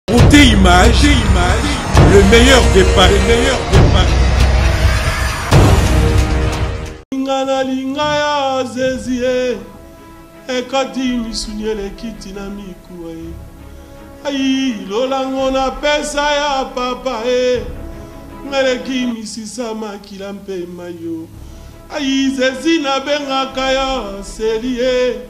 Côté image, image, le meilleur départ, le meilleur départ. Linga na linga ya zezie ekati misuni eleki ntina mikuwa ye ayi lolango na pesa ya papa e ngaleki misisa makila mpe mayo ayi zezi nabengaka yo selie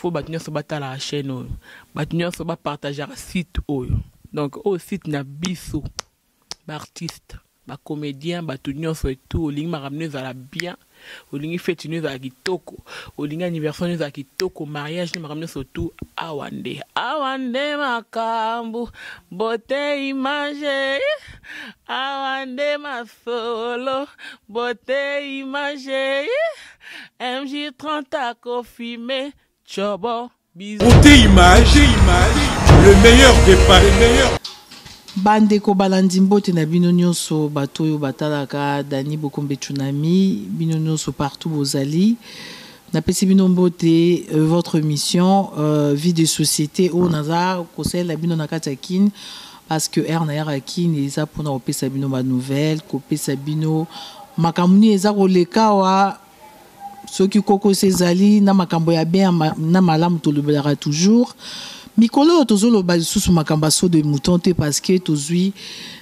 faut bato nyonso batalaka chaîne oyo bato nyonso bapartageaka site oyo donc oyo site na biso baartiste bacomédien bato nyonso etu olingi makambo no ezala bien olingi feti no ezala kitoko olingi anniversaire no ezala kitoko mariage no makambo nyonso tu awa nde awa nde makambo bote image awa nde masolo bote image MJ30 akofime chobo bisous. Pour tes images, images, le meilleur départ, le meilleur. bandeko balandi mbote na bino nyonso bato oyo batalaka dani bokombe tsunami bino nyonso partout bozali napesi bino mbote euh, votre mission euh, vie de société oyo naza kosalela bino na kati ya kin Parce que heure nayaka kin eza pona kopesa bino ba nouvelles, kopesa bino makambo nini eza koleka awa, soki kokoso ezali na makambo ya bien na malamu tolobelaka toujours. Mikolo oyo tozoloba lisusu makambo ya saut de mouton te parce que tozwi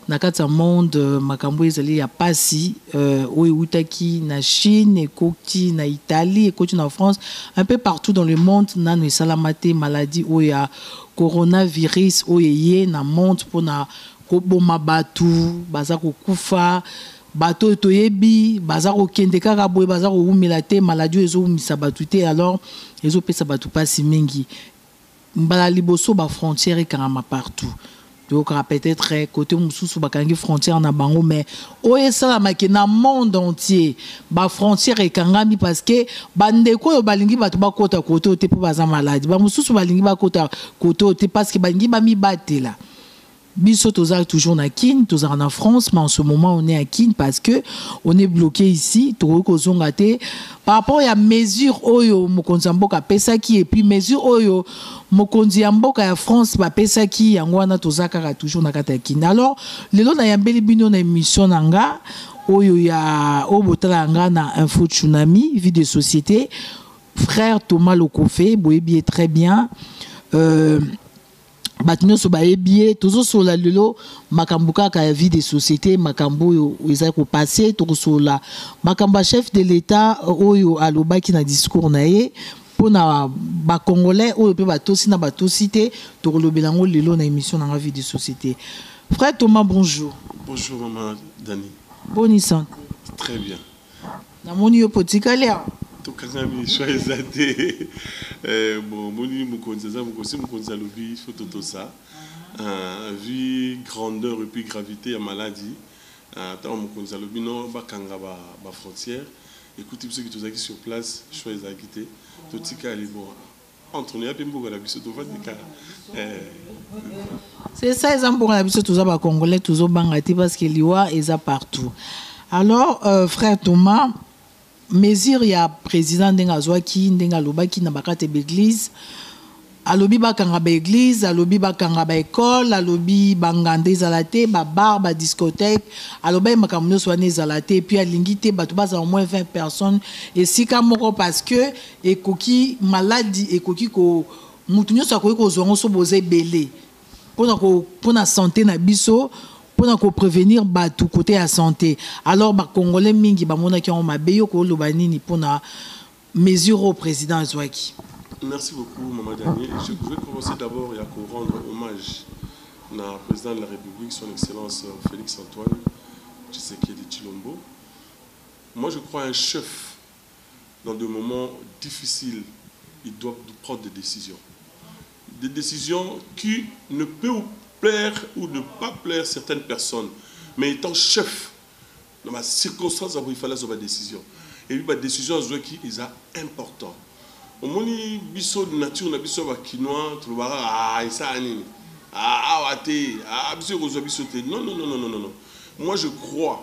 na kati ya monde makambo oyo ezali ya pasi euh, oyo ewutaki na Chine ekoti na Italie ekoti na France un peu partout dans le monde nanu esalama te maladie oyo ya Coronavirus oyo eye na monde pona ko boma batu baza ko kufa batu oyo to yebi baza ko kende kaka boye baza ko wumela te maladie oyo ezo wumisa batu te alors ezo pesa batu pasi mingi mbala liboso ba frontière ekangama partout Yoka peut etre cote mosusu bakangi frontière na bango mais oyo esalamaki na monde entier ba frontière ekangami parce que bandeko oyo balingi bato bakota kote oyo te mpo baza maladi bamosusu balingi bakota kote oyo te parce que balingi bamibatela biso toza toujours na kin tozalaka na france mais en ce moment on est à kin parce que on est bloqué ici tokoki kozonga te par rapport ya mesure oyo mokonzi ya mboka apesaki epuis mesure oyo mokonzi ya mboka ya france bapesaki yango wana toza kaka toujours na kati ya kini alors lelo nayambeli bino na emission na nga oyo ya oyo botalaka nga na info tsunami vie de société frère thomas lokofe boyebi ye très bien euh, bato nyonso bayebi ye tozosolola lelo makambo kaka ya vie de société makambo oyo ezali kopase tokosolola makambo ya chef de l'etat euh, oyo alobaki na discours na ye mpo na bacongolais oyo mpe batosi na batosi te tokolobela yango lelo na émission na nga vie de société frère thomas bonjour bonjour mama dani boni santé très bien Namoni yo potikali awa. Tokangami choix eza te. Eh, moni mokonzi aza mokosi mokonzi alobi il faut totosa. Uh, vu grandeur et puis gravité ya maladie ntango mokonzi alobi no bakanga bafrontière ekuti biso ki tozalaki sur place choix ezalaki te totikali bon Entre nous, yapi mboka na biso tovandi kaka. Eh. C'est ça, eza mboka na biso toza ba congolais tozo banga te parce que liwa eza partout. Alors euh, frère Thomas mesure ya président ndenge azwaki ndenge alobaki na bakate baeglise alobi bakanga baeglise alobi bakanga baekole alobi banganda ezala te babar badiscothèque alobaki makambo nyonso wana ezala te epuis alingi te bato bazala moins 20 personnes esika moko parce que Ekoki maladi ekoki ko mutu nionso akoki kozua yango soki boza ebele pona ko pona sante na biso pona ko prevenir batu kote ya sante alors ba congolais mingi bamonaki yango mabe yo ko loba nini pona mesure oyo president azuaki. Merci beaucoup maman Danie je je vais commencer d'abord ya ko rendre hommage na president de la Republique son excellence Felix Antoine Tshisekedi Tshilombo moi je crois un chef dans des moments difficile il doit prendre des decisions des decisions qui ne peut ou plaire ou ne pas plaire certaines personnes mais étant chef na ba circonstances yango il fallait azwa ba decisions et puis ba decisions azwaki eza important omoni biso nature na biso ya ba kinois tolobaka ah esala nini ah awa te ah biso ekozwa biso te non non non non non moi je crois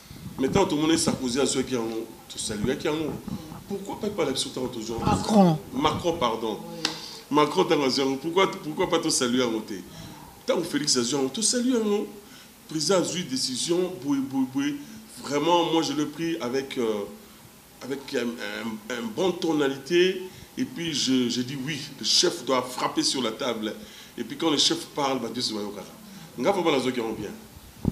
Mais ntango tomonaki Sarkozy azwaki yango tosaluaki yango pourquoi pas epai na biso ntango tozwa Macron Macron pardon Macron ntango azwi yango pourquoi pourquoi pas tosalue yango te ntango Félix azwi yango tosalue yango président azwi décision boye boye boye vraiment moi je l'ai pris avec euh, avec un bon tonalite et puis je dis oui le chef doit frapper sur la table et puis quand le chef parle batu nioso bayokaka nga vraiment nazoki yango bien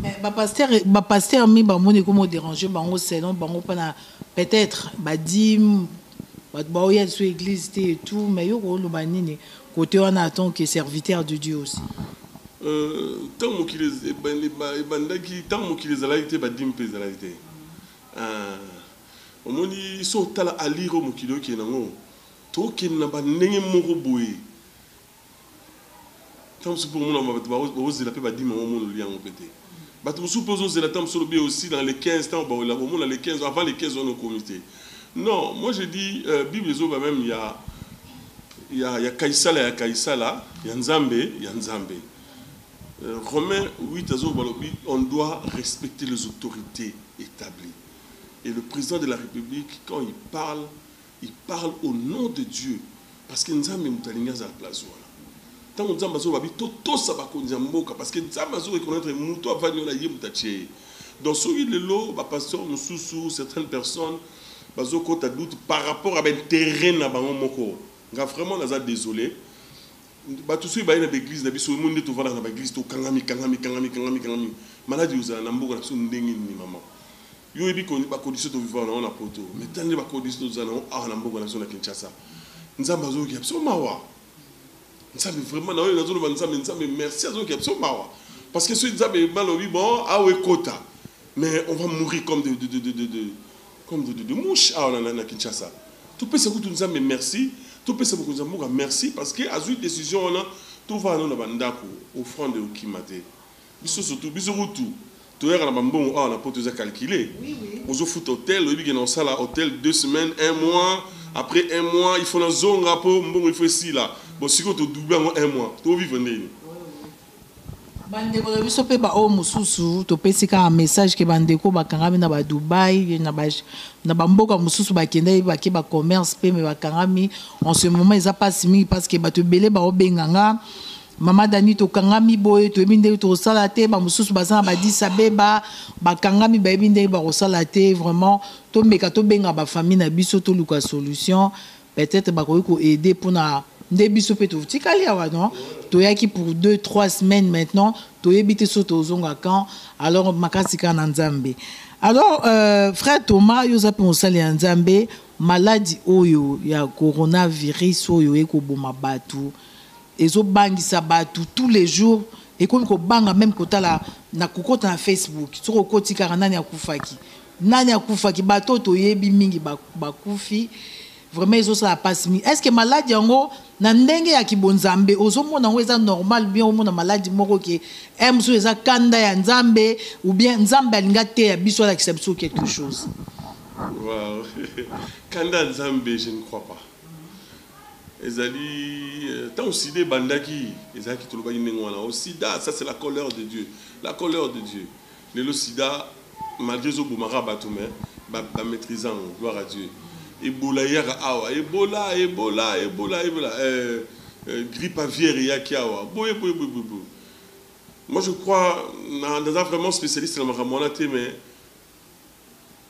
mais ba pasteur ba pasteur mi ba moni ko mo déranger bango selon bango pana peut-être ba dîme ba ba oya sur église te et tout mais yo ko loba nini côté wana en tant que serviteur de Dieu aussi euh tant mo ki les ebandaki tant mo ki les ezalaki te ba dîme pe ezalaki te Eeh omoni soki otala allure oyo mokili oyo ekende na ngo to kende na ba ndenge moko boye tango mosusu pe omona ba batu bazo zela pe ba dime yango omonoli yango pe te batu mosusu pe ozo zela tango mosusu olobi aussi dans le 15 tango ba wela omona le 15 avant le 15 wana okomi te non moi je dis euh, bible ezo loba meme ya ya ya kaisala ya kaisala ya nzambe ya nzambe Romain huit azo loba alobi on doit respecter les autorites etablie et le president de la republique quand il parle il parle au nom de Dieu parce que nzambe moto alingi azala place wana tango nzambe azo loba bi to tosa bakonzi ya mboka parce que nzambe azo reconnaitre moto avandi wana ye moto atie ye donc soki lelo ba pasteur mosusu certaines personnes bazo kota doute par rapport à ba interet na bango moko nga vraiment naza desole Batu soki baye na ba eglise na biso omoni nde tovanda na ba eglise to kangami kangami kangami kangami kangami maladi ozala na mboka na biso ndenge nini maman yo oyebi ko ba condition to vivre na na poto mais tala nde ba condition tozala na awa na mboka na biso na Kinshasa nzambe azoyoki ya biso mawa nzambe vraiment na oyo nazoloba nzambe nzambe merci azoyoki ya biso mawa parce que soki nzambe balobi bon awa ekota mais on va mourir comme de, de, de, de, de, de comme dodo de mouche awa na, na, na Kinshasa topesa kutu Nzambe merci topesa mokonzi ya mboka merci parce que azui decision wana tovanda no na ba ndako offrande ekokima te biso surtout biso kutu toyaka na ba mbongo awa na poto eza calcule ozofuta hotel oyebi ke na osala hotel deux semaines un mois après un mois il faut nazonga po mbongo il faut esila bon sikoyo todouble yango un mois tovivre ndeni Bandeko na biso pe ba oyo mosusu topesi kaka message ke bandeko bakangami na ba Dubaï na ba na ba mboka mosusu bakendaki bake ba commerce pe me bakangami en ce moment eza pasi mingi parce que bato ebele bao benga nga Mama Dani tokangami boye toyebi ndenge tokosala te ba mosusu baza na ba Addis Abeba bakangami bayebi ndenge bakosala te vraiment tomeka tobenga ba famille na biso toluka solution Peut etre bakoki ko aider pona nde biso pe totikali awa non toyaki pour deux trois semaines maintenant toyebi te soki tozonga quand alors makasi kaka na nzambe alors euh, frère Thomas yo oza pe mosali ya nzambe maladi oyo ya coronavirus oyo ekoboma batu Ezo bangisa batu tout les jours ekomi kobanga meme kotala na kokota na Facebook soki okoti kaka nani akufaki nani akufaki batu oyo toyebi mingi bakufi vraiment ezo sala pasi mingi est ce que malade yango na ndenge ya kibonzambe ozo mona yango eza normal bien omona malade moko ke eh mususu eza kanda ya nzambe ou bien nzambe alinga te ya biso alakisa biso quelque chose wow. kanda nzambe je ne crois pas Ezali tango sida ebandaki ezalaki tolobaki ndenge wana o sida ça c'est la colère de Dieu la colère de Dieu lelo sida malgre ezo bomaka bato mais ba ba maitrise yango gloire à Dieu ebola eyaka awa ebola ebola ebola ebola euh, euh, grippe aviaire eyaki awa boye boye boye boye boye moi je crois na naza vraiment spécialiste na makambo wana te mais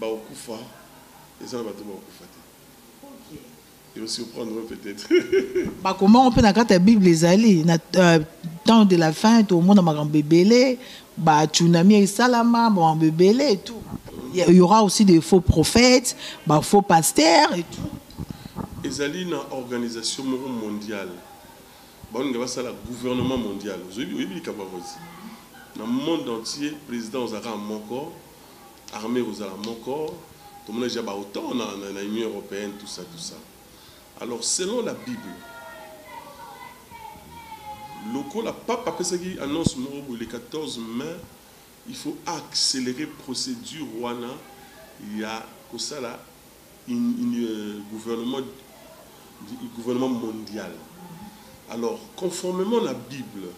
Bakokufa eza na bato bakokufa te et aussi surprendre peut être. Bakoma mpe na kati ya Bible ezali na euh, temps de la fin tokomona makambo ebele ba tsunami esalama makambo ebele et tout. Il y aura aussi des faux prophètes, ba faux pasteurs et tout. Ezali na organisation moko mondiale baolinga basala gouvernement mondial oyebi likambo yango na monde entier président ozalaka moko Armee ekozala moko, tomona dejà ba otan na na union europeenne tout ça tout ça alors selon la bible lokola pape apesaki annonce moko boye le 14 mai il faut accelerer procedure wana ya kosala une, une euh, gouvernement gouvernement mondial alors conformément na bible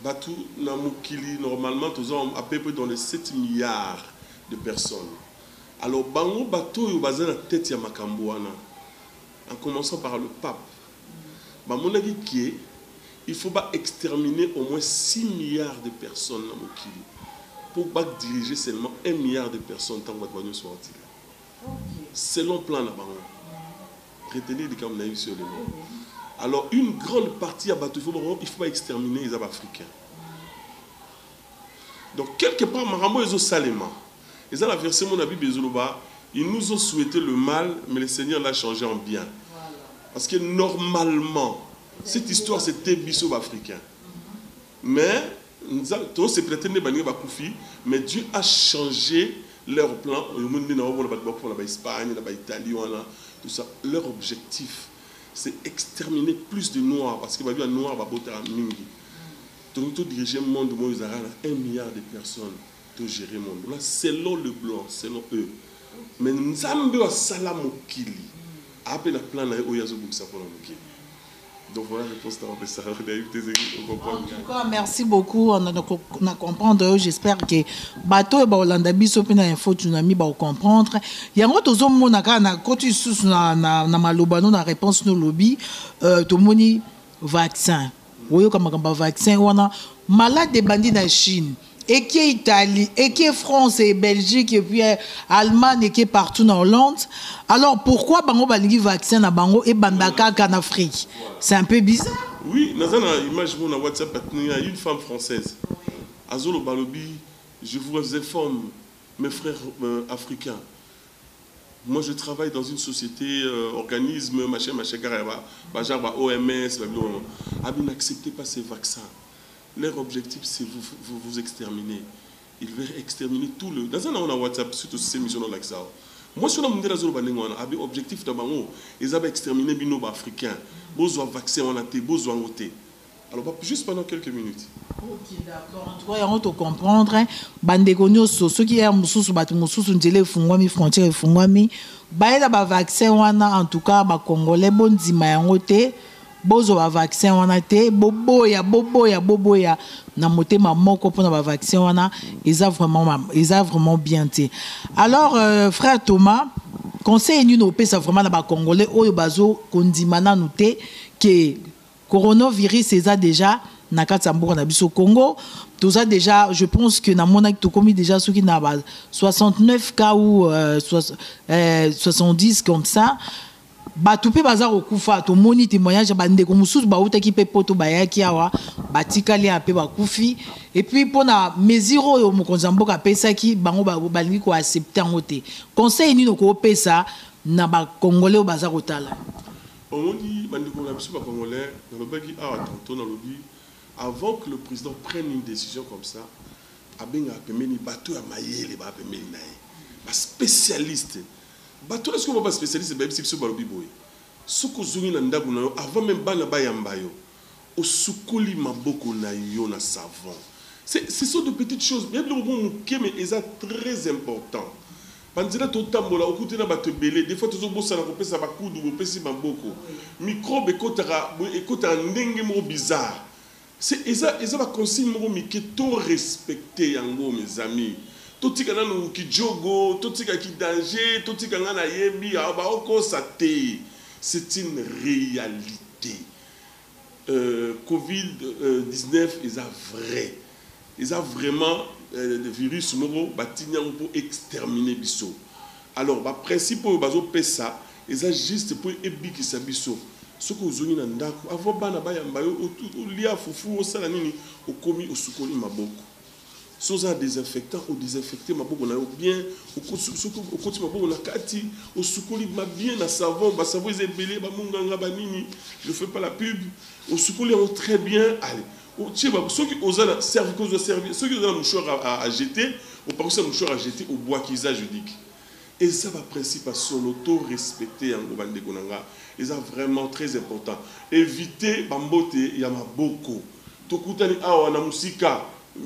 Batu na mokili normalement toza à peu près dans les 7 milliards de personnes. Alors bango bato oyo baza na tete ya makambo wana en commençant par le pape bamonaki que il faut ba exterminer au moins 6 milliards de personnes na mokili pour ba diriger seulement 1 milliard de personnes tango bato banionso bakotika. selon plan na bango retenir likambo nayebisi yo lelo alors une grande partie ya bato ifo bango ifo baextermine eza baafricain donc quelque part makambo ezosalema eza na verse mona bible ezoloba ils nous ont souhaité le mal mais le seigneur l'a changé en bien parce que normalement cette histoire c'était biso baafricain Mais nza to sepela te nde baninga ba kufi mais Dieu a change leur plan oyo moni nde nao mona batu ba kufa na ba Espagne na ba Italie wana tout ça leur objectif c'est extermine plus de noir parce que ba yebi ba noir ba botaka mingi tolingi to dirige monde moyo ezalaka na un milliard de personnes to gere monde wana selon le blanc selon eux mais nzambe oyo asala mokili aa pe na plan naye oyo azo bongisa pona mokili Donc voilà réponse na bapesa na yebi te ezeki okomprendre. En tout cas merci beaucoup on a na comprendre yo j'espère que bato oyo bakolanda biso mpe na info tsunami bakokomprendre yango tozomona kaka na koti lisusu na, na, na maloba no na réponse no lobi euh, tomoni vaccin oyoka makambo ya vaccin wana malade ebandi na chine eke Italie, eke France et Belgique et puis Allemagne eke partout na Hollande alors pourquoi bango balingi vaccin na bango ebanda kaka na Afrique c'est un peu bizarre. Oui naza na image moko na WhatsApp batindi nga une femme française azoloba alobi je vous informe mes frères euh, africains moi je travaille dans une société euh, organisme machin machin kaka ya ba genre ba OMS ba biloko abi n'acceptez pas ces vaccins Leur objectif c'est vous vous vous exterminer il veut exterminer tout le naza nango na WhatsApp suite osisi emission na lakisa yo mwasi wana mundele azoloba ndenge wana abi objectif na bango eza ba exterminer bino ba africain bozwa vaccin wana te bozwa yango te alors ba juste pendant quelques minutes. Ok d'accord en tout cas yango to comprendre ba ndeko nyoso soki ya mususu batu mususu nzela efungwami frontière efungwami bayela ba vaccin wana en tout cas ba congolais bondima yango te. Bozwa ba vaccin wana te boboya boboya boboya na motema moko pona ba vaccin wana eza vraiment eza vraiment bien te alors euh, frère Thomas conseil nini opesa vraiment na ba congolais oyo bazo kondima nanu te que coronavirus eza déjà na kati ya mboka na biso Congo toza déjà je pense que namonaki tokomi déjà soki na ba 69 cas ou euh, 70 euh, comme ça Batu pe baza kokufa tomoni temoignage ya ba ndeko mususu bawutaki pe poto bayaki awa batikali awa pe bakufi et puis pona mesure oyo mokonzi ya mboka apesaki bango balingi ko accepter yango te conseil nini okopesa na ba congolais oyo baza kotala Omoni ba ndeko na biso ba congolais nalobaki awa tantot nalobi avant que le president prenne une decision comme ça abengaka pembeni batu ya mayele baza pembeni na ye ba specialiste Bato wana sikoyo ba specialiste bayebisi biso balobi boye soki ozongi na ndaku na yo avant meme bana bayamba yo osukoli maboko na yo na savon c'est ce sont de petites choses eza biloko moko muke mais eza très important ba nzela totambola okuti na bato ebele des fois tozobosana kopesa ba kudu bopesi maboko microbe ekotaka ekotaka ndenge moko bizarre C'est eza eza ba consigne moko mike to respecte yango mes amis totika nanu ki djogo totika ki danger totika nga na yebi ah ba okosa te c'est une realite euh covid 19 eza vrai. Eza vraiment virus moko batindi yango po exterminer biso alors ba principe oyo bazo pesa eza juste po ebikisa biso soki ozongi na ndaku avant bana bayamba yo olia fufu osala nini okomi osukoli maboko soki oza na desinfectant o desinfecter maboko na yo bien soki okoti maboko na kati osukoli ma bien na savon ba savon eza ebele ba munganga ba nini je fais pas la pub osukoli yango très bien allez Otie ba soki oza na servi ko zwa servie soki oza na mouchoir a a jeter opakosi na mouchoir a jeter obwaki eza judique eza ba principe ya solo to respecter yango ba ndeko na nga eza vraiment très important eviter ba mbote ya maboko to kutani awa na musika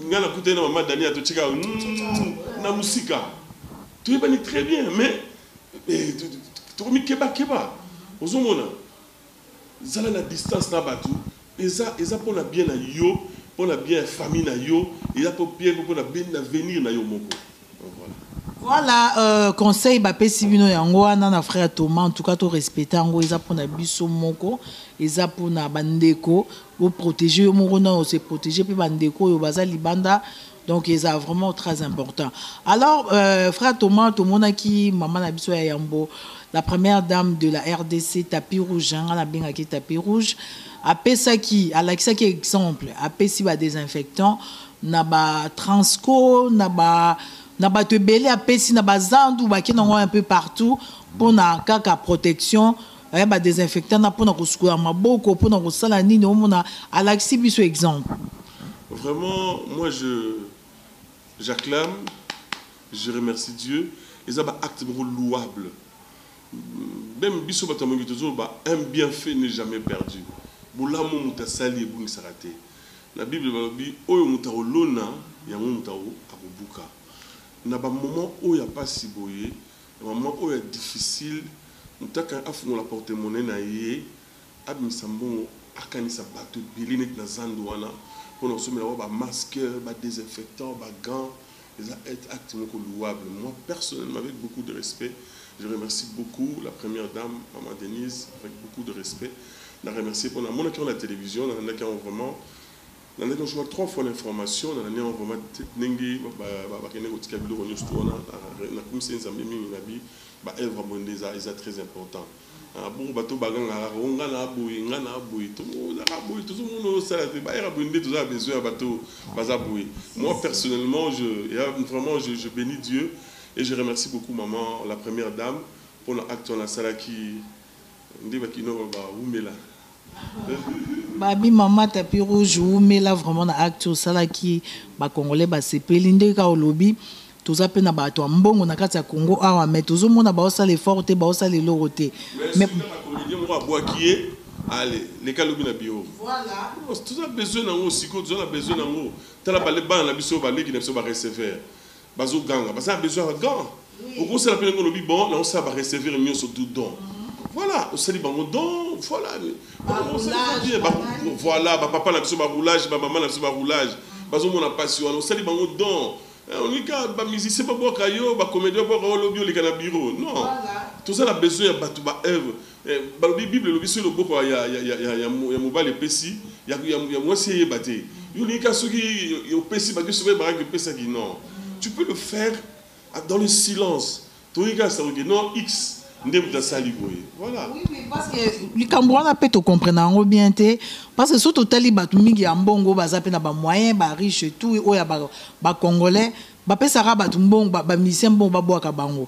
nga na kutani na mama Dania to tika humm na musika to yebani très bien mais eh, to ko mi keba keba ozo mona Zala na distance na batu eza eza pona bien na yo pona bien ya famille na yo eza po bien pe pona bien na venir na yo moko voilà. Voilà euh, conseil ba pesi bino yango wana na frère Thomas en tout cas to respecter yango eza pona biso moko eza pona ba ndeko bo protéger yo moko na se protéger pe ba ndeko oyo baza libanda Donc eza vraiment très important. Alors euh, frère Thomas tomonaki maman na biso ya yambo la première dame de la RDC tapis rouge hein, nga na bengaki tapis rouge apesaki alakisaki exemple apesi ba désinfectant na ba transco na ba na bato ebele apesi na bazandu bakenda yango un peu partout mpo na kaka protection aya ba desinfectant na pona kosukola maboko pona kosala nini omona alakisi biso exemple vraiment moi je j'acclame je remercie Dieu eza ba acte moko louable même biso bato ya moyibi tozoloba un bien fait n'est jamais perdu bolamu moto asali ebungisaka te na bible balobi oyo moto akolona yango moto akobuka na bamoment oyo ya mpasi boye Vraiment oyo ya difficile mutaka afungola porte monnaie na ye abimisa mbongo akangisa batu ebele neti na zandu wana pona kosombela bango ba masque ba desinfectant ba gant eza ete acte moko louable moi personnellement avec beaucoup de respect je remercie beaucoup la première dame maman Denise avec beaucoup de respect na remercie pona namonaki yango na television nalandaki yango vraiment Nalaki kosopa trois fois l'information na landi yango vraiment te ndenge ba kende kotika biloko nionso tout wana na kumiseli nzambe mingi na bi ba œuvre ya boye nde eza eza très important ah bongo bato oyo ba ganga kaka oh nga na boye nga na boye to ozaka boye tozo mona oyo sala te ba œuvre ya boye nde toza na besoin ya bato oyo baza boye moi personnellement je ya vraiment je je beni Dieu et je remercie beaucoup maman la première dame pona acte wana asalaki Nde ba kinois ba wumela hein. Baby maman tapis rouge wumela vraiment na acte osalaki ba congolais ba sepeli ndenge kaka olobi toza pe na batu ya mbongo na kati ya congo awa mais tozo mona bao sala effort te bao sala eloko te mais Comedien moko abuaki ye ale leka lobi na bureau toza besoin na ngo sikoyo toza na besoin na ngo tala bana na biso ba leki na biso ba receveur Bazo ganga baza na besoin ya gant okosala pe ndenge olobi bon nakosala ba recevir nionso tout don voilà osali bango don voilà voilà ba papa na biso ba roulage ba mama na biso ba roulage bazomona mpasi wana osali bango don eh, onika bamusicien babwaka yo bacomédien babwaka yo lobi oleka na bureau non toza na besoin ya bato ba œuvre Eh, balobi bible elobi soki loboko ya, ya, ya, ya, ya, ya mobali epesi ya, ya, ya mwasi eyeba te yo olingi kaka soki opesi baki soki ebakaki opesaki non tu peux le faire dans le silence tolingi kaka sakoke non x nde moto asali boye voilà likambo wana mpe tokomprena yango bien te parce que so totali bato mingi ya mbongo baza mpe na bamoyen bariche et tout oyo ya bacongolais bapesaka bato mbongo bamisien mbongo babwaka bango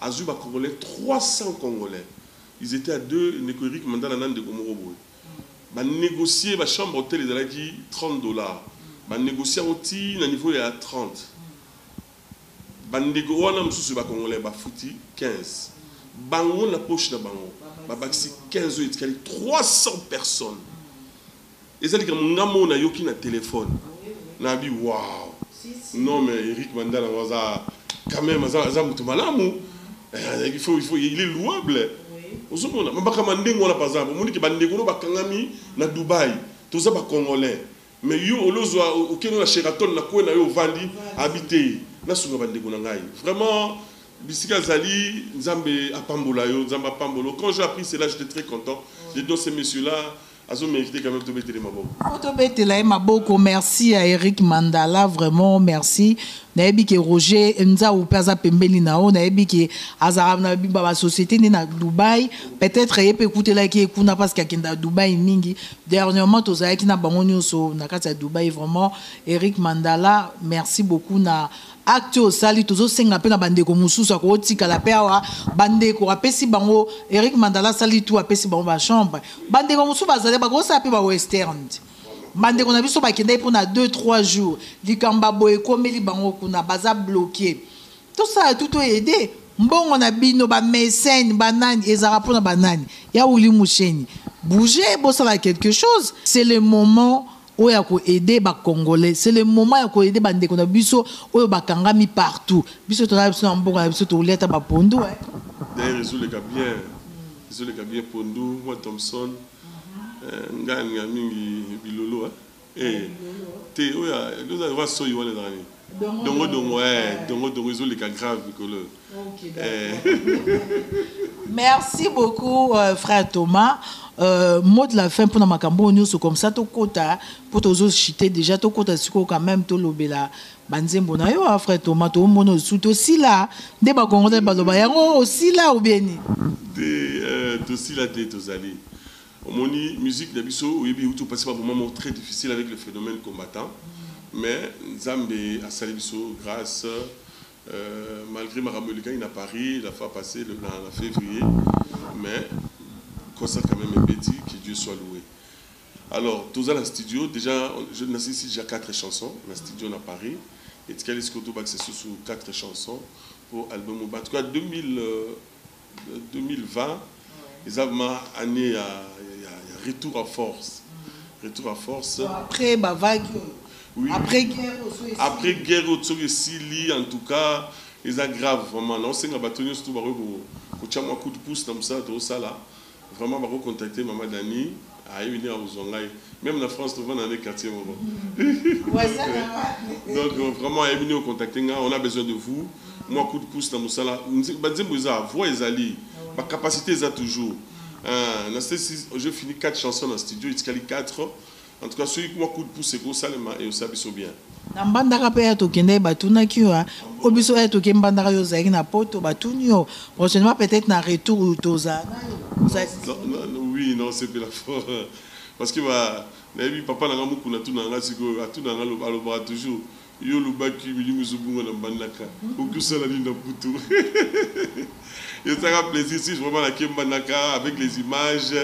Azui ba congolais 300 congolais ils etaient à deux ndeko Eric mandala na ndeko moko boye ba negocie ba chambre hotel ezalaki 30 dollars ba negocie yango ti na niveau ya 30 ba ndeko wana mususu ba congolais ba futi 15 bango na poche na bango ba bakisi 15 oyo etikali 300 personnes Eza likambo nga moko na yoki na telephone na bi wow non mais Eric Mandala ngo aza quand même aza aza mutu malamu eh, il faut il faut il est louable ozo mona mabaka mandengo na paza bo moni ke ba ndeko no bakangami na Dubai toza ba congolais mais yo olozwa okeno na Sheraton na kwe na yo ovandi abite na sunga ba ndeko na ngai vraiment bisika azali nzambe apambola yo nzambe apambola quand j'ai appris cela j'étais très content j'ai dit ce monsieur là Azo m'inviter quand même to betele maboko. Faut to betela ye maboko merci à Eric Mandala vraiment merci. Nayebi ke Roger Nzau pe aza pembeni na yo nayebi ke azalaka na bimba ba société nde na Dubaï peut-être ye pe ekutelaki ye kuna parce que akenda Dubaï mingi dernièrement tozalaki na bango nionso na kati ya Dubaï vraiment Eric Mandala merci beaucoup na Acte oyo osali tozo senga pe na ba ndeko mususu ako otikala pe awa ba ndeko apesi bango Eric Mandala asali tout apesi bango ba chambre ba ndeko mususu bazali bako sala pe ba westerns ba ndeko na biso bakendaki pona deux trois jours likambo ya boye ekomeli bango kuna baza bloque tosala tout to aide mbongo na bino ba mecene ba nani ezalaka pona ba nani ya Willy Musheni bougez bosala quelque chose c'est le moment oyo ya ko aider ba congolais c'est le moment ya ko aider ba ndeko na biso oyo ba kangami partout biso toza biso na mboka na biso tokolia ata ba pondu eh d'ailleurs ezo leka bien ezo leka bien pondu moi Thompson eh, nga nga mingi bilolo eh, eh. te oyo ya soyi wana ezalani Dongo dongo eh dongo dongo ezo leka grave mikolo eh. Merci beaucoup euh, frère Thomas. Euh, mot de la fin pour makambo nyonso comme ça to kota pour tozo chiter déjà to kota siko quand même to lobela banzembo na yo ah, frère Thomas to mono sous to sila nde ba congolais ba loba yango osila ou bien ni. Te euh, to sila te tozali. Omoni musique na biso oyebi ewuti kopasi ba moment moko très difficile avec le phenomène combattant mais nzambe asali biso grace malgre makambo elekaki na Paris la fois passe na fevrier mais concert quand meme ebeti que Dieu soit loue alors toza na studio dejà nasilisi dejà 4 chanson na studio na Paris etikali sikoyo tobakisa lisusu 4 chanson po album en tout cas 2000 2020 eza vraiment annee ya, ya, ya retour à force retour à force bon, après ba vague oui. après guerre après guerre oyo soki esili en tout cas eza grave vraiment naosenga bato nyonso to bakoki kotya mwa coup de pouce na mosala tozosala Vraiment bako contacter maman Dani ayebi ndenge akozua ngai meme na France tovanda nde quartier moko donc vraiment ayebi ndenge contacter ngai on a besoin de vous mwa coup de pouce na musala ba nzembo eza voix ezali ba capacite eza toujours na sesi je fini 4 chansons na studio etikali 4 En tout cas soki kuma coup de pouce eko salema eosala biso bien. Na mbandaka pe ya tokendaki batunaki yo po biso ya toke mbandaka yo ozalaki na poto batuni yo prochainement peut etre na retour tozala nayo ozali disponible? Oui na sepela fort parce que ba nayebi papa na nga mukuna atunaka nga sikoyo atunaka nga alobaka toujours Yo olobaki milimo ezo bunga na mbanaka oki osala nini na poto esaka plaisir si vraiment na ke mbanaka avec les images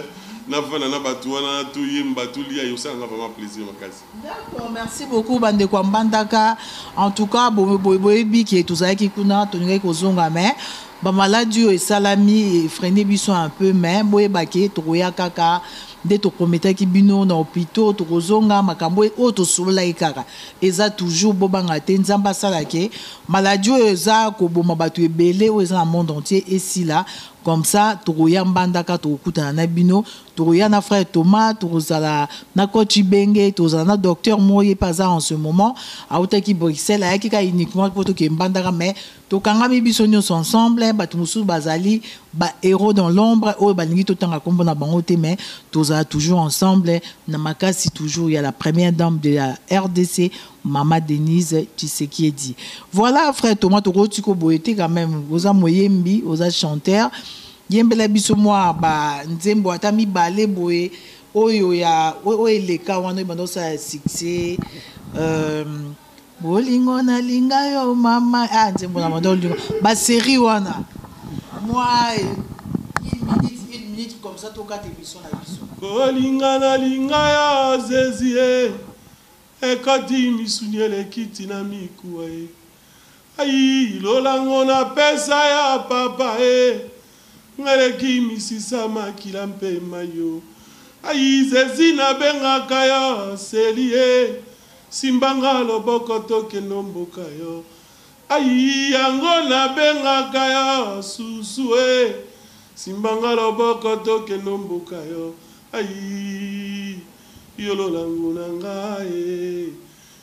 na vanda na batu wana to yemba to lia yo salanga vraiment plaisir makasi. D'accord merci beaucoup ba ndeko ya mbandaka en tout cas bo boyebi ke tozalaki kuna tolingaki kozonga mais ba maladi oyo esalami efreine biso un peu mais boyeba ke tokoya kaka nde to prometaki bino na hopitaux tokozonga makambo oyo tosololaki kaka eza toujours bobanga te nzambe asala ke maladie oyo eza koboma batu ebele oyo eza na monde entier esila comme ça tokoya mbandaka tokokutana na bino tokoya na frère Thomas tokozala na coach Ibenge tozala na docteur moye pe aza en ce moment autaki Bruxelles ayaki ka uniquement poto ke mbandaka mais Tokangami biso nionso ensemble, batu mosusu bazali ba heros dans l'ombre oyo balingi totanga kombo na bango te mais tozala toujours ensemble na makasi toujours ya la première dame de la rdc mama Denise Tshisekiedi. Voilà frère Thomas tokoki tiko boye te quand meme oza moyembi oza chanteur yembela biso mwa ba nzembo ata mibale boye oyo ya oyo eleka wana oyo ebanda osala succès euh, Bolingo na linga yo mama ah nzembo na mado lingo ba serie wana moi une minute une minute comme ça toka te biso na biso bolinga na linga ya zezie ekati misuni elekiti na mikuwa ye Ayii lola ngo na pesa ya papa ee Nga leki misisa makila mpe mayo Ayii zezi na bengaka yo seli ee Simba nga loboko to kendo mboka yo Ayii yango na bengaka yo susu ee Simba nga loboko to kendo mboka yo Ayii yo lola ngo na nga ee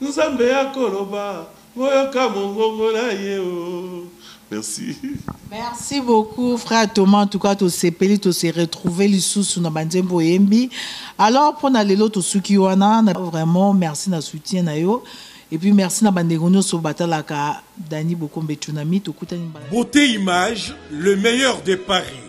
Nzambe ako loba boyoka mongongo na ye oh merci. Merci beaucoup frère Thomas en tout cas tosepeli to se retrouver lisusu na ba nzembo oyembi alors pona lelo tosuki wana na vraiment merci na soutien na yo et puis merci na bandeko nyonso batalaka Dany Bokombe Tsunami tokutani mbala Beauté Image, le meilleur de Paris.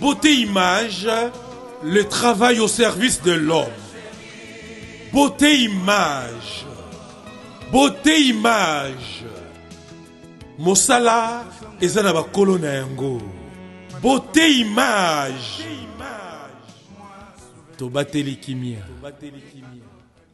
Beauté image, le travail au service de l'homme. Beauté image. Beauté image. Mosala eza na bakolo na yango. Beauté image. Tobateli kimia.